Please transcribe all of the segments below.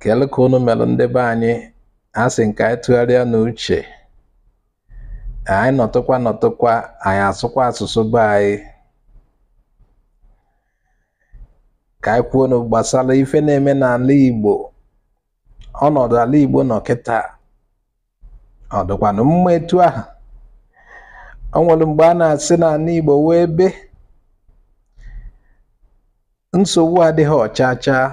kedu ka unu melu ndị be anyị asị m ka anyị tụgharịanụ uche anyị nọtụkwa nọtụkwa anyị asụkwa asụsụ be anyị ka anyị kwuonụ gbasara ife na-eme n'ala Igbo ọnọdụ ala Igbo nọ kịta ọ dịkwanụ mma etu ahụ o nwere mgbe a na-asị na ala Igbo wụ ebe nsogbu adịghị cha chaa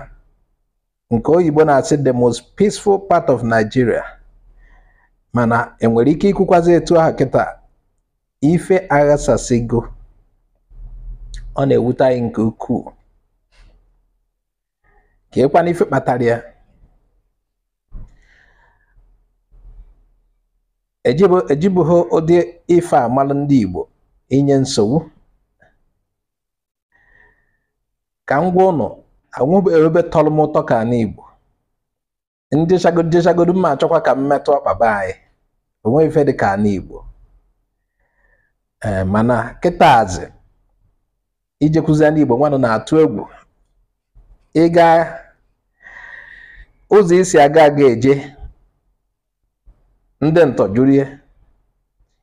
nke oyibo na-asị the most peaceful part of Nigeria mana e nwere ike ikwukwazi etu ahụ kịta ife aghasasịgo ọ na-ewute anyị nke ukwuu kee kwanụ ife kpatara ya ejibughị ụdị ife a malụ ndị Igbo inye nsogbu ka m gwa unu enwebeghị ebe tọrọ m ụtọ ka ala Igbo m jechagodu m jechagodu m ma achọkwa ka m metụ ọkpa be anyị o nweghị ife dị ka ala Igbo ee mana kịtazi ijekwuzi ala Igbo nwanụ na-atụ egwu ị ga ụzọ i si aga aga eje ndị ntọ juru ya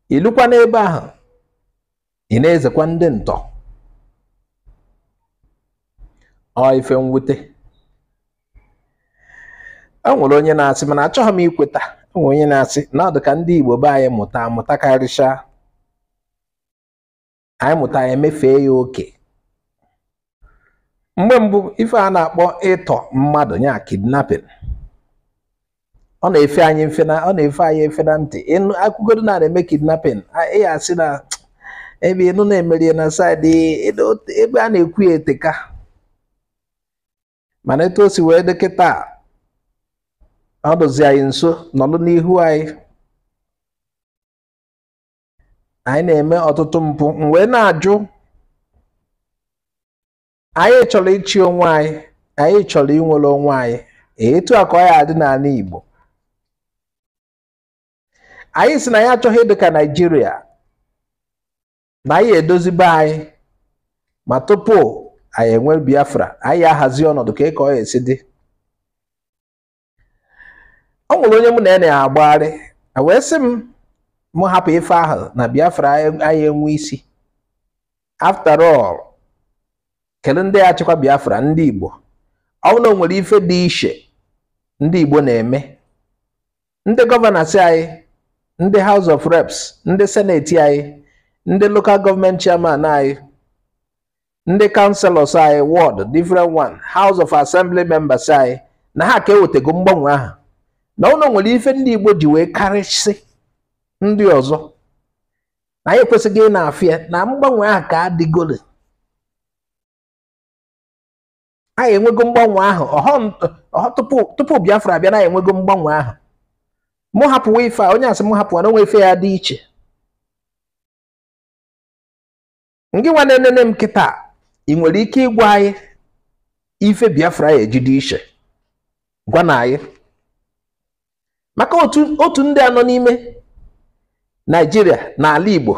i lukwa n'ebe ahụ ị na-ezekwa ndị ntọ ọ ife mwute e nwere onye na-asị mana achọghị m ikweta e nwere onye na-asị na ọ dị ka ndị Igbo be anyị mụta amụta karịchaa anyị mụta ya emefee ya oke mgbe mbụ ife a na-akpọ ịtọ mmadụ nya kidnapping ọ na-efe anyị efe na ọ na-efe anyị efe na ntị ị nụ a kọgodo na a na-eme kidnapping ị ya asị na ebe ị nụ na e mere ya na side ebe a na-ekwu ya eteka mana etu o si wee dị kịta ọ dụzi anyị nso nọlụ n'ihu anyị anyị na-eme ọtụtụ mpụ m wee na-ajụ anyị chọrọ ịchị onwe anyị anyị chọrọ inwere onwe anyị etu a ka ọ ya adị n'ala Igbo anyị sị na anyị achọghị ịdị ka Naịjirịa na anyị ya edozi be anyị ma tupu anyị enwe Biafra anyị ya ahazi ọnọdụ ka ka ọ ya esi dị o nwere onye mụ na ya na-agbagharị wee sị m mụ hapụ ife ahụ na Biafra anyị enwe isi after all kedu ndị ya achịkwa Biafra ndị Igbo ọ bụrụ na o nwere ife dị iche ndị Igbo na-eme ndị governors anyị ndị House of Reps ndị Senate anyị ndị local government chairman anyị ndị councillors anyị ward different one house of assembly members anyị na ha ka ewetego mgbanwe ahụ na ụlọ nwere ife ndị igbo ji wee karịsị ndị ọzọ na anyị ekwesịghị ị na-afịa na mgbanwe ahụ ka adịgole anyị enwego mgbanwe ahụ tupu Biafra abịa na anyị enwego mgbanwe ahụ mụ hapụwa ife a onye asị mụ hapụwa na o nwe ife ya adị iche ngị nwa na-enene m kịta ị nwere ike ịgwa anyị ife biafra ya eji dị iche gwanụ anyị maka otu ndị a nọ n'ime naijiria na ala igbo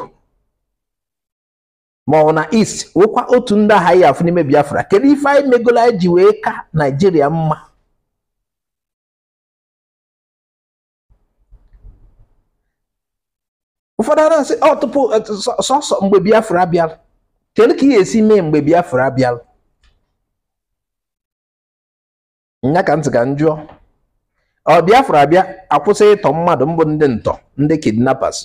ma ọ wụ na east wụkwa otu ndị ahụ a ya afụ n'ime biafra kedu ife anyị megolo anyị ji wee ka naijiria mma ụfọdụ a na-asị ọ tupu eh, sọ- sọsọ mgbe biafra bịara kedu ka ị ya esi mee mgbe biafra bịara nya ka ntị ka m jụọ ọ biafra bịa akwụsị ịtọ mmadụ mbụ ndị ntọ ndị kidnappers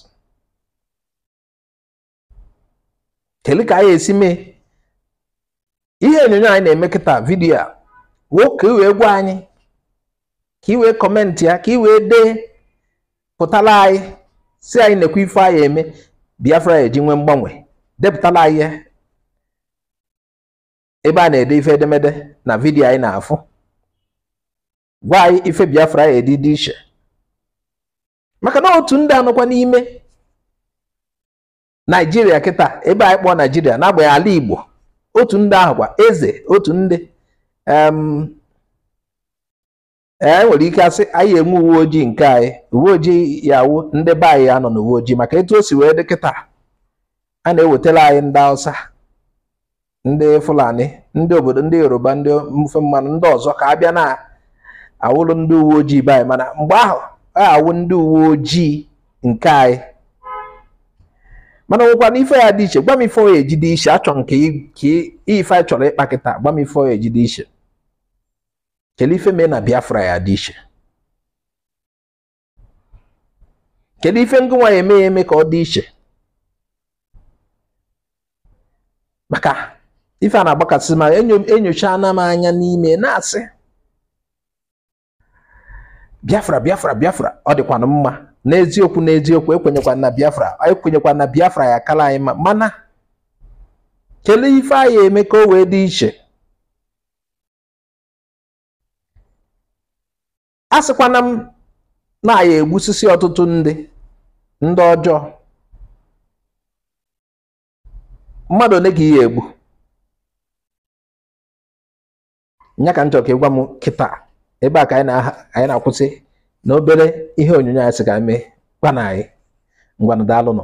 kedu ka anyị esi mee ihe onyonyo anyị na-eme kịta vidiyo a woo ka i wee gwa anyị ka i wee kọmentị ya ka i wee depụtara anyị sị anyị nekwa ife a ya eme biafra ya eji nwee mgbanwe depụtara anyị ya ebe a na-ede ife edemede na vidiyo anyị na-afụ gwa anyị ife biafra ya eji dị iche maka na otu ndị a nọkwa n'ime naijiria kịta ebe anyị kpọọ naijiria n'agbanyeghị ala igbo otu ndị ahụkwa eze otu ndị e nwere ike asị anyị enwe uwe ojii nke anyị uwe ojii ya wụ ndị be anyị ya anọ n'uwe ojii maka etu o si wee dị kịta a na-ewetara anyị ndị Hausa ndị Fulani ndị obodo ndị Yoruba ndị mfe mmanụ ndị ọzọ ka abịa na-awụlụ ndị uwe ojii be anyị mana mgbe ahụ ya awụ ndị uwe ojii nke anyị mana nwekwanụ ife ya adị iche gwa m ife ọ ya eji dị iche achọ nke ka ife anyị chọrọ ịkpa kịta gwa m ife ọ ya eji dị iche kele ife mee na Biafra ya adị iche kedu ife ngị nwa ya eme ya eme ka ọ dị iche maka ife a na-agbakasị m ahụ enyochaana m anya n'ime na-asị biafra biafra biafra ọ dịkwanụ mma n'eziokwu n'eziokwu ekwenyekwa m na biafra ekwenyekwa m na biafra ya akala anyị mma mana kelee ife anyị ya eme ka o wee dị iche asịkwana m na ị ya-egbusisi ọtụtụ ndị ndị ọjọọ mmadụ ole ka ị ya-egbu nya ka m chọrọ ka ị gwa m kịta ebe a ka anyị na-akwụsị na obere ihe onyonyo anyị sị ka mee gwa na anyị ngwanụ daalụnụ